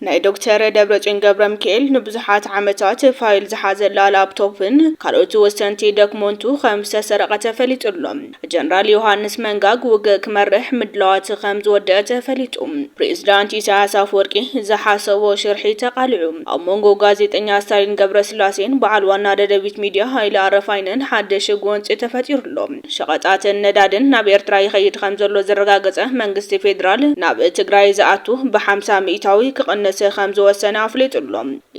ናይ ዶክተር ደብረፅዮን ገብረሚካኤል ንብዙሓት ዓመታት ፋይል ዝሓዘላ ላፕቶፕን ካልኦት ወሰንቲ ደክሞንቱ ከም ዝተሰረቐ ተፈሊጡ ኣሎ። ጀነራል ዮሃንስ መንጋግ ውግእ ክመርሕ ምድላዋት ከም ዝወደአ ተፈሊጡ። ፕሬዝዳንት ኢሳያስ ኣፈወርቂ ዝሓሰቦ ሽርሒ ተቓሊዑ። ኣብ መንጎ ጋዜጠኛ ስታሊን ገብረስላሴን በዓል ዋና ደደቢት ሚድያ ሃይለ ኣረፋይነን ሓድሽ ጎንፂ ተፈጢሩ ኣሎ። ሸቐጣትን ነዳድን ናብ ኤርትራ ይኸይድ ከምዘሎ ዘረጋገጸ መንግስቲ ፌደራል፣ ናብ ትግራይ ዝኣቱ ብሓምሳ ሚኢታዊ ክቕንስ ከምዝወሰነ ኣፍሊጡ'ሎ።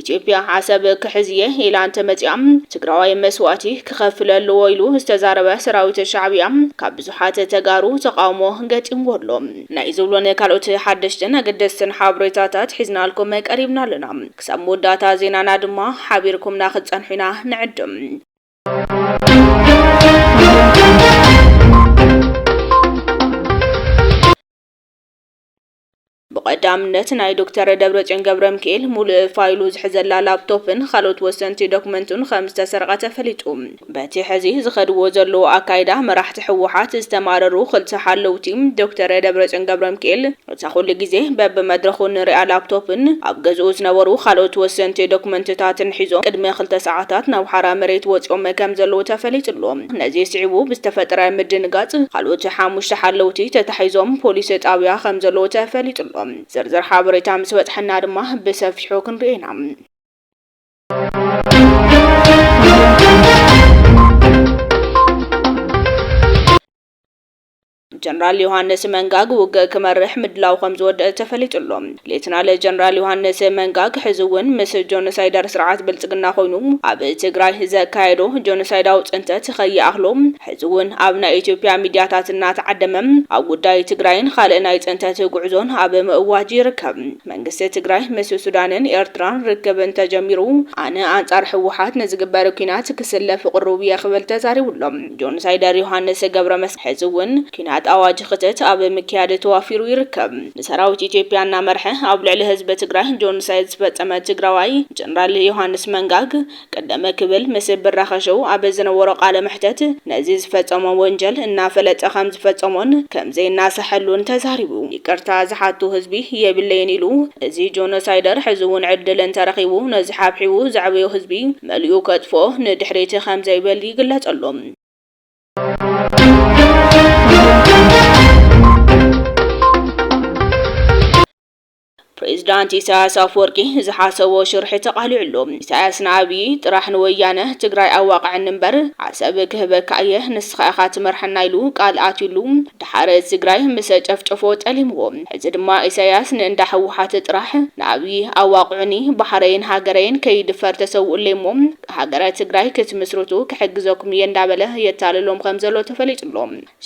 ኢትዮጵያ ዓሰብ ክሕዝ'የ ኢላ እንተመጺኣ ትግራዋይ መስዋእቲ ክኸፍል ኣለዎ ኢሉ ዝተዛረበ ሰራዊት ሻዕብያ ካብ ብዙሓት ተጋሩ ተቓውሞ ገጢምዎ'ሎ። ናይ ዝብሉን ካልኦት ሓደሽትን ኣገደስትን ሓበሬታታት ሒዝናልኩም ቀሪብና ኣለና። ክሳብ መወዳእታ ዜናና ድማ ሓቢርኩምና ክትጸንሑ ኢና ንዕድም። ብቐዳምነት ናይ ዶክተር ደብረጽዮን ገብረ ሚካኤል ሙሉእ ፋይሉ ዝሕዘላ ላፕቶፕን ካልኦት ወሰንቲ ዶክመንቱን ከም ዝተሰርቐ ተፈሊጡ። በቲ ሕዚ ዝኸድዎ ዘለዎ ኣካይዳ መራሕቲ ህወሓት ዝተማረሩ ክልተ ሓለውቲ ዶክተር ደብረጽዮን ገብረ ሚካኤል እታ ኩሉ ግዜ በብመድረኹ እንሪኣ ላፕቶፕን ኣብ ገዝኡ ዝነበሩ ካልኦት ወሰንቲ ዶክመንትታትን ሒዞ ቅድሚ ክልተ ሰዓታት ናብ ሓራ መሬት ወፂኦም ከምዘለዉ ተፈሊጡ'ሎ። ነዚ ስዒቡ ብዝተፈጠረ ምድንጋፅ ካልኦት ሓሙሽተ ሓለውቲ ተታሒዞም ፖሊስ ጣብያ ከምዘለዉ ተፈሊጡ'ሎ። ዝርዝር ሓበሬታ ምስ በፅሐና ድማ ብሰፊሑ ክንሪኦ ኢና። ጀነራል ዮሃንስ መንጋግ ውግእ ክመርሕ ምድላዉ ከምዝወደእ ተፈሊጡ ኣሎ። ሌተናል ጀነራል ዮሃንስ መንጋግ ሕዚ እውን ምስ ጆኖሳይደር ስርዓት ብልፅግና ኮይኑ ኣብ ትግራይ ዘካየዶ ጆኖሳይዳዊ ፅንተት ከይኣኽሎ ሕዚ እውን ኣብ ናይ ኢትዮጵያ ሚድያታት እናተዓደመ ኣብ ጉዳይ ትግራይን ኻልእ ናይ ፅንተት ጉዕዞን ኣብ ምእዋጅ ይርከብ። መንግስቲ ትግራይ ምስ ሱዳንን ኤርትራን ርክብ እንተጀሚሩ ኣነ ኣንፃር ህወሓት ንዝግበር ኲናት ክስለፍ ቕሩብ እየ ክብል ተዛሪቡ ኣሎ። ጆኖሳይደር ዮሃንስ ገብረመስቀል ሕዚ እውን ኲናት ኣዋጅ ክተት ኣብ ምክያድ ተዋፊሩ ይርከብ። ንሰራዊት ኢትዮጵያ እናመርሐ ኣብ ልዕሊ ህዝቢ ትግራይ ጆኖሳይድ ዝፈፀመ ትግራዋይ ጀነራል ዮሃንስ መንጋግ ቀደም ክብል ምስ ብራኸ ሾው ኣብ ዝነበሮ ቃለ መሕተት ነዚ ዝፈፀሞ ወንጀል እናፈለጠ ከምዝፈፀሞን ከምዘይናሰሐሉን ተዛሪቡ። ይቅርታ ዝሓቱ ህዝቢ የብለይን ኢሉ እዚ ጆኖሳይደር ሕዚ ውን ዕድል እንተረኺቡ ነዚ ሓብሒቡ ዘዕበዮ ህዝቢ መሊኡ ከጥፍኦ ንድሕሪት ከምዘይብል ይግለፀሉ። ፕሬዝዳንት ኢሳያስ ኣፍወርቂ ዝሓሰቦ ሽርሒ ተቃሊዑሉ። ኢሳያስ ንኣብዪ ጥራሕ ንወያነ ትግራይ ኣዋቅዐኒ እምበር ዓሰብ ክህበካ እየ ንስኻ ኢኻ ትመርሐና ኢሉ ቃል ኣትዩሉ ደሓር ትግራይ ምሰ ጨፍጨፎ ጠሊምዎ ሕዚ ድማ ኢሳያስ ንእንዳ ህወሓት ጥራሕ ንኣብዪ ኣዋቅዑኒ ባሕረይን ሃገረይን ከይድፈር ተሰውኡለይ እሞ ሃገረ ትግራይ ክትምስርቱ ክሕግዘኩም እየ እንዳበለ የታልሎም ከምዘሎ ተፈሊጡሎ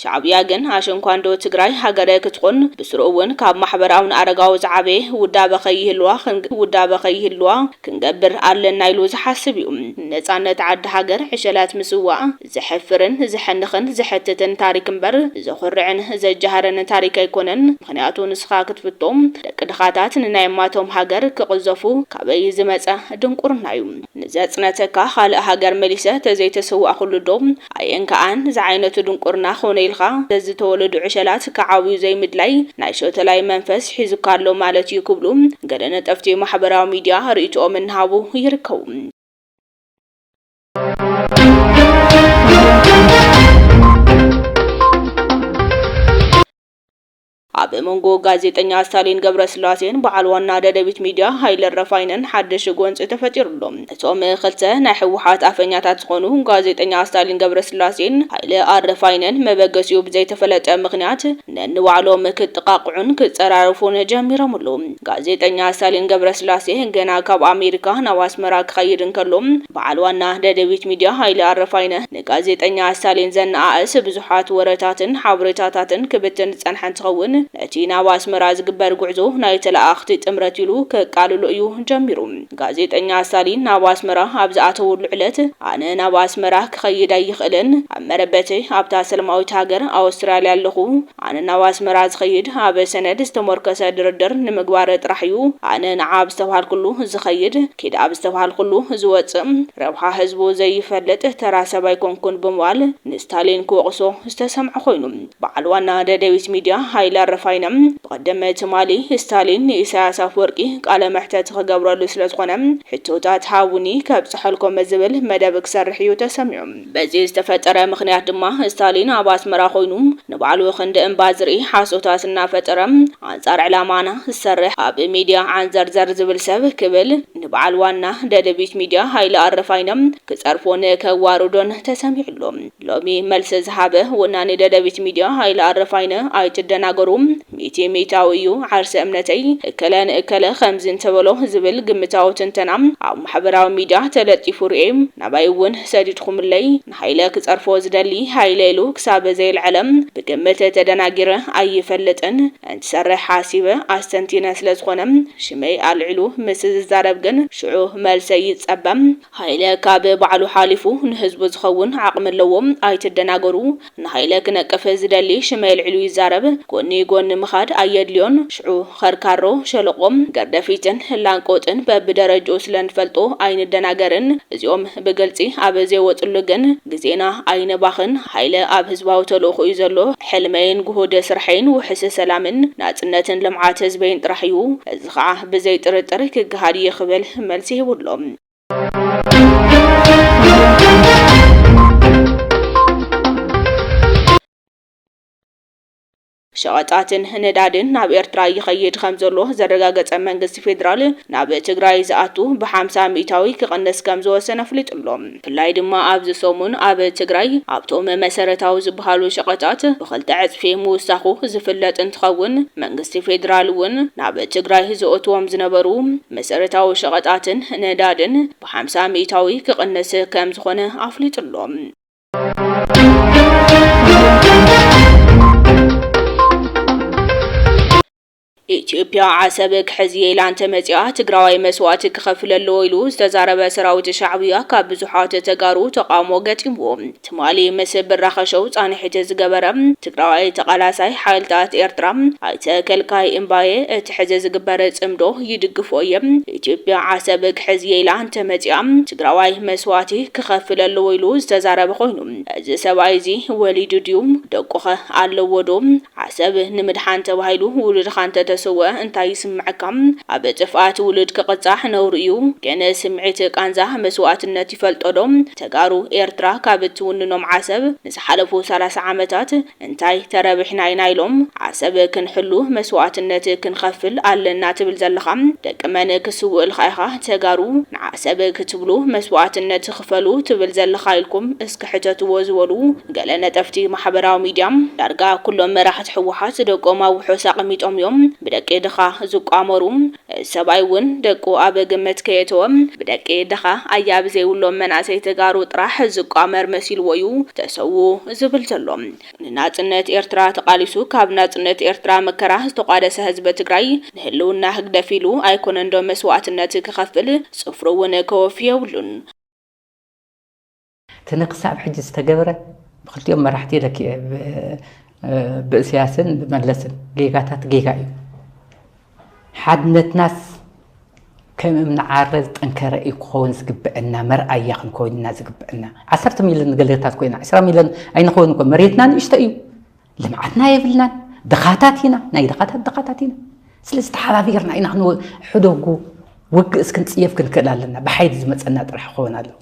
ሻዕብያ ግን ኣሸንኳንዶ ትግራይ ሃገረ ክትኹን ብስሩኡ ውን ካብ ማሕበራውን ኣረጋዊ ዝዓበየ ውዳበ ከይህልዋ ክንግ ውዳበ ከይህልዋ ክንገብር ኣለና ኢሉ ዝሓስብ ዩ። ንነፃነት ዓዲ ሃገር ዕሸላት ምስዋእ ዘሕፍርን ዘሕንኽን ዘሕትትን ታሪክ እምበር ዘኹርዕን ዘጃህርን ታሪክ ኣይኮነን ምኽንያቱ ንስኻ ክትፍቶ ደቂ ድኻታት ንናይ ማቶም ሃገር ክቕዘፉ ካበይ ዝመፀ ድንቁርና ዩ ንዘፅነተካ ኻልእ ሃገር መሊሰ ተዘይተሰዋእኹሉ ዶ ኣየንካኣን ዝዓይነቱ ድንቁርና ኮነ ኢልካ ዘዝተወለዱ ዕሸላት ክዓብዩ ዘይምድላይ ናይ ሾተላይ መንፈስ ሒዙካ ኣሎ ማለት እዩ ክብሉ ገለ ነጠፍቲ ማሕበራዊ ሚድያ ሪኢቶኦም እናሃቡ ይርከቡ። ኣብ መንጎ ጋዜጠኛ ስታሊን ገብረስላሴን በዓል ዋና ደደቢት ሚድያ ሃይለ ረፋይነን ሓድሽ ጎንፂ ተፈጢሩ ኣሎ። እቶም ክልተ ናይ ህወሓት ኣፈኛታት ዝኾኑ ጋዜጠኛ ስታሊን ገብረስላሴን ሃይለ ኣረፋይነን መበገሲኡ ብዘይተፈለጠ ምኽንያት ነንባዕሎም ክጠቓቕዑን ክፀራረፉን ጀሚሮም ኣለዉ። ጋዜጠኛ ስታሊን ገብረስላሴ ገና ካብ ኣሜሪካ ናብ ኣስመራ ክኸይድ እንከሎ በዓል ዋና ደደቢት ሚድያ ሃይለ ኣረፋይነ ንጋዜጠኛ ስታሊን ዘነኣእስ ብዙሓት ወረታትን ሓበሬታታትን ክብትን ዝጸንሐ እንትኸውን፣ ነቲ ናብ ኣስመራ ዝግበር ጉዕዞ ናይ ተለኣኣኽቲ ጥምረት ኢሉ ከቃልሎ እዩ ጀሚሩ። ጋዜጠኛ ስታሊን ናብ ኣስመራ ኣብ ዝኣተወሉ ዕለት፣ ኣነ ናብ ኣስመራ ክኸይድ ኣይኽእልን፣ ኣብ መረበተይ ኣብታ ሰላማዊት ሃገር ኣውስትራልያ ኣለኹ፣ ኣነ ናብ ኣስመራ ዝኸይድ ኣብ ሰነድ ዝተሞርከሰ ድርድር ንምግባር ጥራሕ እዩ። ኣነ ንዓ ኣብ ዝተብሃልኩሉ ዝኸይድ፣ ኪድ ኣብ ዝተብሃልኩሉ ዝወጽእ፣ ረብሓ ህዝቡ ዘይፈልጥ ተራ ሰብ ኣይኮንኩን ብምባል ንስታሊን ክወቕሶ ዝተሰምዐ ኮይኑ፣ በዓል ዋና ደደቢት ሚድያ ሃይለ ኣረፋይነ ብቐደመ ትማሊ ስታሊን ንኢሳያስ ኣፍወርቂ ቃለ መሕተት ክገብረሉ ስለዝኾነ ሕቶታት ሃቡኒ ከብጽሐልኩም ዝብል መደብ ክሰርሕ እዩ ተሰሚዑ። በዚ ዝተፈጠረ ምኽንያት ድማ ስታሊን ኣብ ኣስመራ ኮይኑ ንባዕሉ ክንዲ እምባ ዝርኢ ሓሶታት እናፈጠረ ኣንጻር ዕላማና ዝሰርሕ ኣብ ሚድያ ዓንዘርዘር ዝብል ሰብ ክብል ንበዓል ዋና ደደቢት ሚድያ ሃይለ ኣረፋይነ ክጸርፎን ከዋርዶን ተሰሚዑ ኣሎ። ሎሚ መልሲ ዝሃበ ወናኒ ደደቢት ሚድያ ሃይለ ኣረፋይነ ኣይትደናገሩ ሚእቲ ሚእታዊ እዩ ዓርሰ እምነተይ፣ እከለ ንእከለ ከምዚ እንተበሎ ዝብል ግምታዊ ትንተና ኣብ ማሕበራዊ ሚድያ ተለጢፉ ርእየ። ናባይ እውን ሰዲድኩምለይ። ንሃይለ ክፀርፎ ዝደሊ ሃይለ ኢሉ ክሳብ ዘየልዐለ ብግምት ተደናጊረ ኣይፈልጥን። እንትሰርሕ ሓሲበ ኣስተንቲነ ስለዝኾነ ሽመይ ኣልዒሉ ምስ ዝዛረብ ግን ሽዑ መልሰይ ይፀበ። ሃይለ ካብ ባዕሉ ሓሊፉ ንህዝቡ ዝኸውን ዓቕሚ ኣለዎ ኣይትደናገሩ። ንሃይለ ክነቅፍ ዝደሊ ሽመይ ኣልዒሉ ይዛረብ ጎኒ ጎኒ ምኻድ ኣየድልዮን ሽዑ ኸርካሮ ሸለቆ ገርደፊትን ላንቆጥን በብደረጅኡ ስለ ንፈልጦ ኣይንደናገርን እዚኦም ብግልጺ ኣብ ዘይወጽሉ ግን ግዜና ኣይነባኽን ሃይለ ኣብ ህዝባዊ ተልእኾ እዩ ዘሎ ሕልመይን ጉሁድ ስርሐይን ውሕስ ሰላምን ናጽነትን ልምዓት ህዝበይን ጥራሕ እዩ እዚ ኸዓ ብዘይ ጥርጥር ክገሃድ እዩ ክብል መልሲ ሂቡ ኣሎ። ሸቐጣትን ነዳድን ናብ ኤርትራ ይኸይድ ከም ዘሎ ዘረጋገጸ መንግስቲ ፌዴራል ናብ ትግራይ ዝኣቱ ብሓምሳ ሚእታዊ ክቕንስ ከም ዝወሰነ ኣፍሊጡ ኣሎ። ብፍላይ ድማ ኣብዚ ሰሙን ኣብ ትግራይ ኣብቶም መሰረታዊ ዝበሃሉ ሸቐጣት ብኽልተ ዕጽፊ ምውሳኹ ዝፍለጥ እንትኸውን መንግስቲ ፌዴራል እውን ናብ ትግራይ ዘእትዎም ዝነበሩ መሰረታዊ ሸቐጣትን ነዳድን ብሓምሳ ሚኢታዊ ክቕንስ ከምዝኾነ ኣፍሊጡ'ሎ። ኢትዮጵያ ዓሰብ ክሕዝ'የ ኢላ እንተመፂኣ ትግራዋይ መስዋእቲ ክኸፍል ኣለዎ ኢሉ ዝተዛረበ ሰራዊት ሻዕብያ ካብ ብዙሓት ተጋሩ ተቓውሞ ገጢምዎ ትማሊ ምስ ብራኸ ሾው ፃንሒት ዝገበረ ትግራዋይ ተቓላሳይ ሓይልታት ኤርትራ ኣይተ ከልካይ እምባየ እቲ ሕዚ ዝግበር ፅምዶ ይድግፎ እየ፣ ኢትዮጵያ ዓሰብ ክሕዝ እየ ኢላ እንተመፂኣ ትግራዋይ መስዋእቲ ክኸፍል ኣለዎ ኢሉ ዝተዛረበ ኮይኑ እዚ ሰብኣይ እዚ ወሊዱ ድዩ? ደቁኸ ኣለዎ ዶ? ዓሰብ ንምድሓን ተባሂሉ ውሉድኻ እንተተሰወኣ እንታይ ይስመዐካ? ኣብ ጥፍኣት ውሉድ ክቕፃዕ ነውሪ እዩ፣ ግን ስምዒት ቃንዛ መስዋእትነት ይፈልጦ ዶ ተጋሩ ኤርትራ ካብ እትውንኖም ዓሰብ ንዝሓለፉ ሰላሳ ዓመታት እንታይ ተረብሕና ኢና ኢሎም ዓሰብ ክንሕሉ መስዋእትነት ክንኸፍል ኣለና ትብል ዘለኻ ደቂ መን ክስውእልካ ኢኻ ተጋሩ ንዓሰብ ክትብሉ መስዋእትነት ኽፈሉ ትብል ዘለኻ ኢልኩም እስኪ ሕተትዎ ዝበሉ ገለ ነጠፍቲ ማሕበራዊ ሚድያ ዳርጋ ኩሎም መራሕቲ ህወሓት ደቆም ኣብ ውሑስ ኣቅሚጦም እዮም ብደቂ ድኻ ዝቋመሩ። ሰብኣይ እውን ደቁ ኣብ ግምት ከየእተወ ብደቂ ድኻ ኣያብ ዘይብሎም መናእሰይ ተጋሩ ጥራሕ ዝቋመር መሲልዎ እዩ ተሰውኡ ዝብል ዘሎ። ንናፅነት ኤርትራ ተቓሊሱ ካብ ናፅነት ኤርትራ መከራ ዝተቋደሰ ህዝቢ ትግራይ ንህልውና ህግደፍ ኢሉ ኣይኮነንዶ መስዋእትነት ክኸፍል ፅፍሩ እውን ከወፊ የብሉን። እቲ ንክሳብ ሕጂ ዝተገብረ ብክልቲኦም መራሕቲ ለኪኤ ብእስያስን ብመለስን ጌጋታት ጌጋ እዩ ሓድነትናስ ከም እምኒ ዓረ ዝጠንከረ እዩ ክኸውን ዝግብዐና መርኣያ ክንከውን ኢና ዝግብዐና ዓሰርተ ሚልዮን ገለታት ኮይና ዕስራ ሚልዮን ኣይንኸውን እኮ መሬትና ንእሽቶ እዩ ልምዓትና የብልናን ድኻታት ኢና ናይ ድኻታት ድኻታት ኢና ስለዚ ተሓባቢርና ኢና ሕደጉ ውግእ እስክንፅየፍ ክንክእል ኣለና ብሓይሊ ዝመፀና ጥራሕ ክኸውን ኣለዎ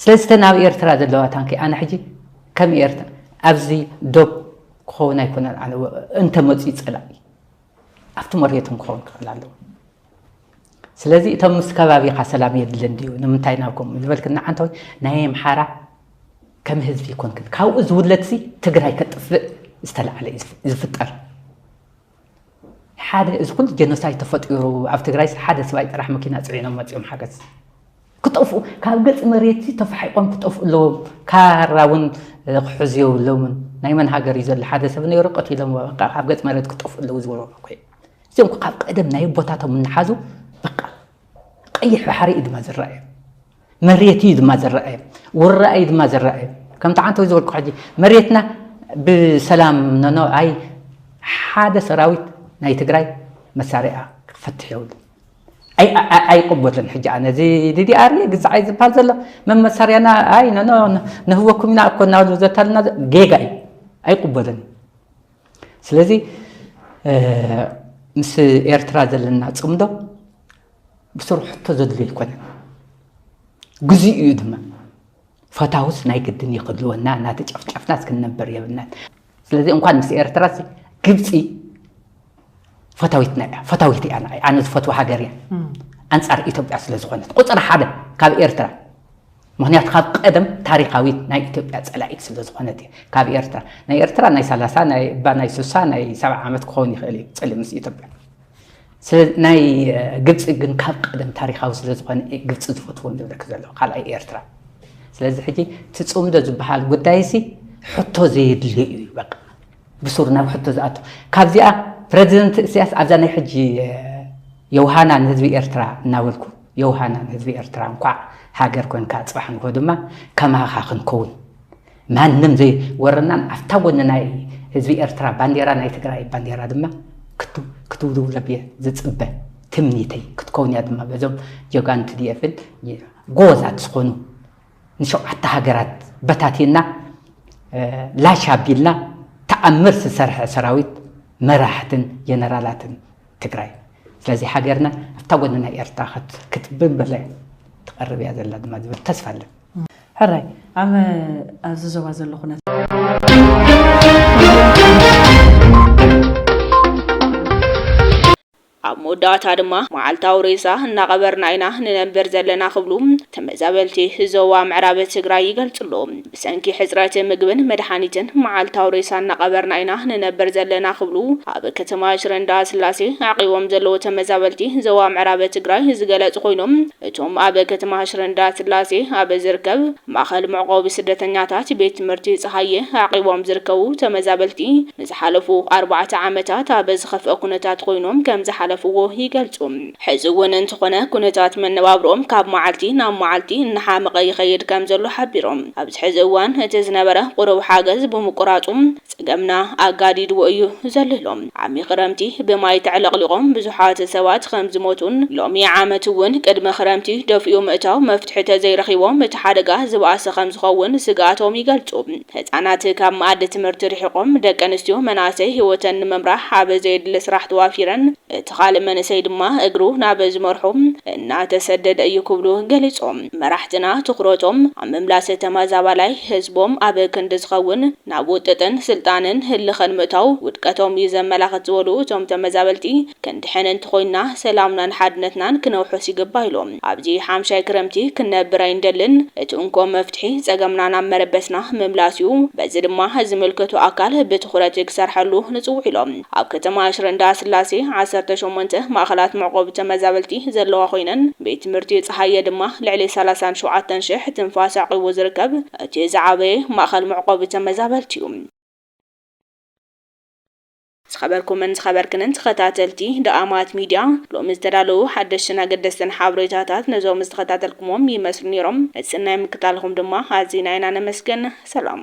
ስለዚ እተን ኣብ ኤርትራ ዘለዋ ታንኪ ኣነ ሕጂ ከም ኤርትራ ኣብዚ ዶብ ክኸውን ኣይኮነን ኣነ እንተመፅኡ ፀላኢ ኣብቲ መሬቶም ክኸውን ክኽእል ኣለዎ ስለዚ እቶም ምስ ከባቢኻ ሰላም የድልን ድዩ ንምንታይ ናብ ከምኡ ዝበልክ ንዓንተ ወይ ናይ ኣምሓራ ከም ህዝቢ ይኮንክን ካብኡ ዝውለድሲ ትግራይ ከጥፍእ ዝተላዕለ ዝፍጠር ሓደ እዚ ኩሉ ጀኖሳይድ ተፈጢሩ ኣብ ትግራይስ ሓደ ስባይ ጥራሕ መኪና ፅዒኖም መፂኦም ሓገዝ ክጠፍኡ ካብ ገፅ መሬት ተፋሒቆም ክጠፍኡ ኣለዎም ካራ እውን ክሕዙ የብሎምን ናይ መን ሃገር እዩ ዘሎ ሓደ ሰብ ነይሩ ቀቲሎም በቃ ካብ ገፅ መሬት ክጠፍኡ ኣለዉ ዝበሉ እኮ እዚኦም ካብ ቀደም ናይ ኣቦታቶም እናሓዙ በቃ ቀይሕ ባሕሪ እዩ ድማ ዝረኣየ መሬት እዩ ድማ ዝረኣየ ውራእ እዩ ድማ ዝረኣየ ከምቲ ዓንተ ወይ ዝበልኩ ሕጂ መሬትና ብሰላም ነኖ ኣይ ሓደ ሰራዊት ናይ ትግራይ መሳርያ ክፈትሕ የብሉ ኣይቅበልን ሕጂ ኣነ እዚ ዲዲኣር ግዛዓይ ዝበሃል ዘሎ መመሳርያና ኣይ ነኖ ነህወኩም ኢና እኮ እናበሉ ዘታልና ጌጋ እዩ ኣይቅበልን ስለዚ ምስ ኤርትራ ዘለና ፅምዶ ብስሩ ሕቶ ዘድልዮ ኣይኮነን ግዜኡ እዩ ድማ ፈታውስ ናይ ግድን ይኽልወና እናተጨፍጨፍና እስክንነበር የብልናን ስለዚ እንኳን ምስ ኤርትራ ግብፂ ፈታዊትና እያ ፈታዊት እያ ንዓይ ኣነ ዝፈትዋ ሃገር እያ ኣንፃር ኢትዮጵያ ስለ ዝኾነት ቁፅሪ ሓደ ካብ ኤርትራ ምክንያቱ ካብ ቀደም ታሪካዊት ናይ ኢትዮጵያ ጸላኢት ስለ ዝኾነት እዩ ካብ ኤርትራ ናይ ኤርትራ ናይ ሰላሳ እባ ናይ ሱሳ ናይ ሰብዓ ዓመት ክኸውን ይኽእል እዩ ጽልኢ ምስ ኢትዮጵያ ናይ ግብፂ ግን ካብ ቀደም ታሪካዊ ስለ ዝኾነ ግብፂ ዝፈትዎ ዝብለክ ዘሎ ካልኣይ ኤርትራ ስለዚ ሕጂ ትፅምዶ ዝበሃል ጉዳይ ሲ ሕቶ ዘየድልዮ እዩ በቃ ብሱሩ ናብ ሕቶ ዝኣቱ ካብዚኣ ፕረዚደንት እስያስ ኣብዛ ናይ ሕጂ የውሃና ንህዝቢ ኤርትራ እናበልኩ የውሃና ንህዝቢ ኤርትራ እንኳዕ ሃገር ኮንካ ጽባሕ ንግሆ ድማ ከማኻ ክንከውን ማንም ዘይወረናን ኣብታ ጎኒ ናይ ህዝቢ ኤርትራ ባንዴራ ናይ ትግራይ ባንዴራ ድማ ክትውልውለብ እየ ዝጽበ ትምኒተይ ክትከውን እያ ድማ በዞም ጀጋኑ ትድኤፍን ጎበዛት ዝኾኑ ንሸውዓተ ሃገራት በታቲንና ላሽ ኣቢልና ተኣምር ዝሰርሐ ሰራዊት መራሕትን ጀነራላትን ትግራይ ስለዚ ሃገርና ኣብታ ጎኒ ናይ ኤርትራ ክትብበለ ትቐርብ እያ ዘላ ድማ ዝብል ተስፋ ኣለን ሕራይ ኣብ ኣብዚ ዞባ ዘሎ ኩነት ኣብ መወዳእታ ድማ መዓልታዊ ሬሳ እናቐበርና ኢና ንነብር ዘለና ክብሉ ተመዛበልቲ ዞባ ምዕራብ ትግራይ ይገልፁ'ሎ። ብሰንኪ ሕፅረት ምግብን መድሓኒትን መዓልታዊ ሬሳ እናቐበርና ኢና ንነብር ዘለና ክብሉ ኣብ ከተማ ሽረ እንዳስላሴ ዓቒቦም ዘለዉ ተመዛበልቲ ዞባ ምዕራብ ትግራይ ዝገለፁ ኮይኖም እቶም ኣብ ከተማ ሽረ እንዳስላሴ ኣብ ዝርከብ ማእኸል መዕቖቢ ስደተኛታት ቤት ትምህርቲ ፀሃየ ዓቒቦም ዝርከቡ ተመዛበልቲ ንዝሓለፉ ኣርባዕተ ዓመታት ኣብ ዝኸፍኣ ኩነታት ኮይኖም ከም ዝሓለፍዎ ይገልጹ። ሕዚ እውን እንተኾነ ኩነታት መነባብሮኦም ካብ መዓልቲ ናብ መዓልቲ እናሓመቐ ይኸይድ ከም ዘሎ ሓቢሮም። ኣብዚ ሕዚ እዋን እቲ ዝነበረ ቁሩብ ሓገዝ ብምቁራፁ ፀገምና ኣጋዲድዎ እዩ ዘሎ ኢሎም። ዓሚ ክረምቲ ብማይ ተዕለቕሊቖም ብዙሓት ሰባት ከም ዝሞቱን ሎሚ ዓመት እውን ቅድሚ ክረምቲ ደፊኡ ምእታው መፍትሒ ተዘይረኺቦም እቲ ሓደጋ ዝበኣሰ ከም ዝኸውን ስግኣቶም ይገልፁ። ህፃናት ካብ መኣዲ ትምህርቲ ርሒቖም፣ ደቂ ኣንስትዮ መናእሰይ ህይወተን ንምምራሕ ኣብ ዘየድሊ ስራሕ ተዋፊረን፣ እቲ ኻልእ መንእሰይ ድማ እግሩ ናብ ዝመርሖ እናተሰደደ እዩ ክብሉ ገሊፆም። መራሕትና ትኹረቶም ኣብ ምምላስ ተመዛባላይ ህዝቦም ኣብ ክንዲ ዝኸውን ናብ ውጥጥን ስልጣንን ህልኸን ምእታው ውድቀቶም እዩ ዘመላኽት ዝበሉ እቶም ተመዛበልቲ፣ ክንድሕን እንተኾይንና ሰላምናን ሓድነትናን ክነውሕስ ይግባእ ኢሎም። ኣብዚ ሓምሻይ ክረምቲ ክንነብር ኣይንደልን። እቲ እንኮ መፍትሒ ጸገምና ናብ መረበትና ምምላስ'ዩ። በዚ ድማ ዝምልከቶ ኣካል ብትኹረት ክሰርሐሉ ንጽውዕ ኢሎም። ኣብ ከተማ ሽረ እንዳስላሴ ዓሰርተ ሸሞንተ ማእኸላት መዕቆቢ ተመዛበልቲ ዘለዋ ኮይነን ቤት ትምህርቲ ጸሃየ ድማ ልዕሊ ሰላሳን ሸውዓተን ሽሕ ትንፋስ ኣዕቂቡ ዝርከብ እቲ ዝዓበየ ማእኸል መዕቆቢ ተመዛበልቲ'ዩ። ዝኸበርኩምን ዝኸበርክንን ተኸታተልቲ ደኣማት ሚድያ፣ ሎሚ ዝተዳለዉ ሓደሽትን ኣገደስትን ሓበሬታታት ነዞም ዝተኸታተልኩምዎም ይመስሉ ነይሮም። ነቲ ስናይ ምክታልኹም ድማ ኣዚና ኢና ነመስግን። ሰላም።